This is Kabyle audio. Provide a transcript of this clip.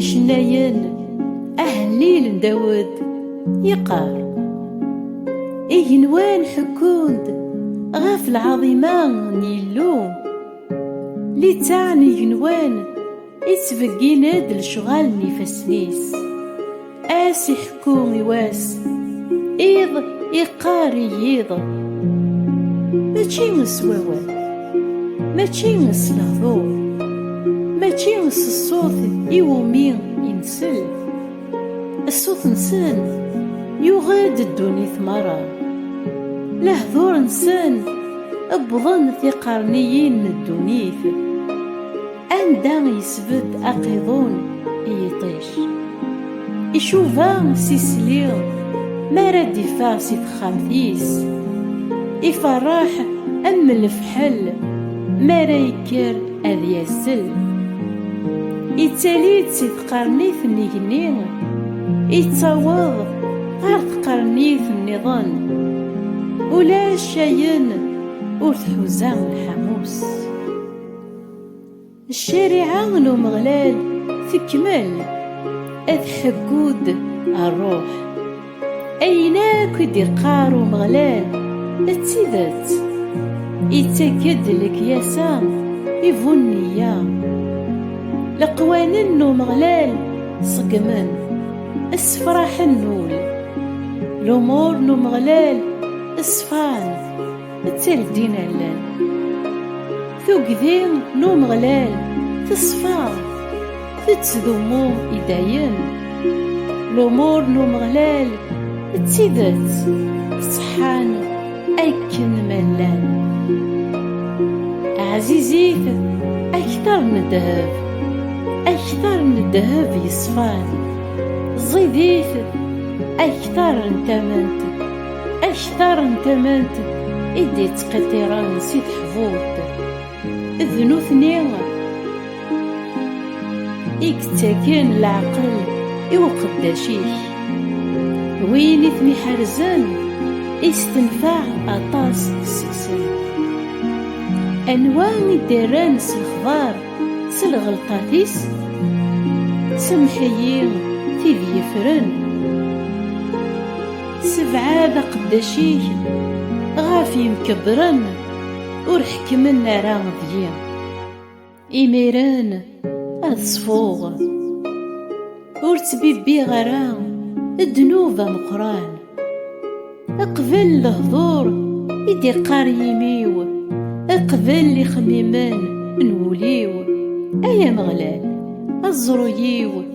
icennayen ahellil n Dawed yeqqar igenwan ḥekkun-d ɣef lɛaḍima n Yillu littaɛ n igenwan Ittbeggin-d lecɣal n ifassen-is Ass iḥekku i wass Iḍ iqqar i yiḍ Mačči s wawal Mačči s lehdur Mačči s ṣṣut iwumi insel Ṣṣut-nsen yuɣ-d ddunit merra Lehdur-nsen wwḍen tiqerniyin n ddunit Anda yesbed aqiḍun i yiṭij Icuba s isli mi ara d-iffeɣ si texxamt-is Iferreḥ am lefḥel mi ara yekker ad yasel Ittali-d si tqernit n igenni Ittaweḍ ɣer tqernit nniḍen Ulac ayen ur tḥuza lḥamu-s Ccariɛa n Umeɣlal tekmel ad tḥeggu-d ṛṛuḥ. Ayen akk i d-iqqar Umeɣlal d tidet. Ittak-d lekyasa i bu nneyya. Leqwanen n Umeɣlal ṣeggmen, ssefraḥen ul. Lumuṛ n Umeɣlal ṣfan. Nettarddin allan. Tugdi n Umeɣlal teṣfa, tettdummu i dayem. Lumuṛ n Umeɣlal d tidet ṣeḥḥan akken ma llan. Ɛzizit akteṛ n ddheb, akteṛ n ddheb yeṣfan. Ẓidit akteṛ n tament Aktar n tamant i d-ittqiṭṭiren si teḥburt, d nutni i yettaken leɛqel i uqeddac-ik. Win i ten-iḥerzen i s-tenfeɛ aṭas seg-sen. Anwa i d-rran s lexbar s lɣelṭat-is? Semmeḥ-iyi tid yefren. Sebɛed aqeddac-ik ɣef yimkebbren ur ḥekkmen ara deg-i. Imiren ad ṣfuɣ, ur ttbibbiɣ ara ddnub ameqqran. Qbel lehdur i d-iqqar yimi-w, qbel ixemmimen n wul-iw, ay Ameɣlal, aẓru-iw.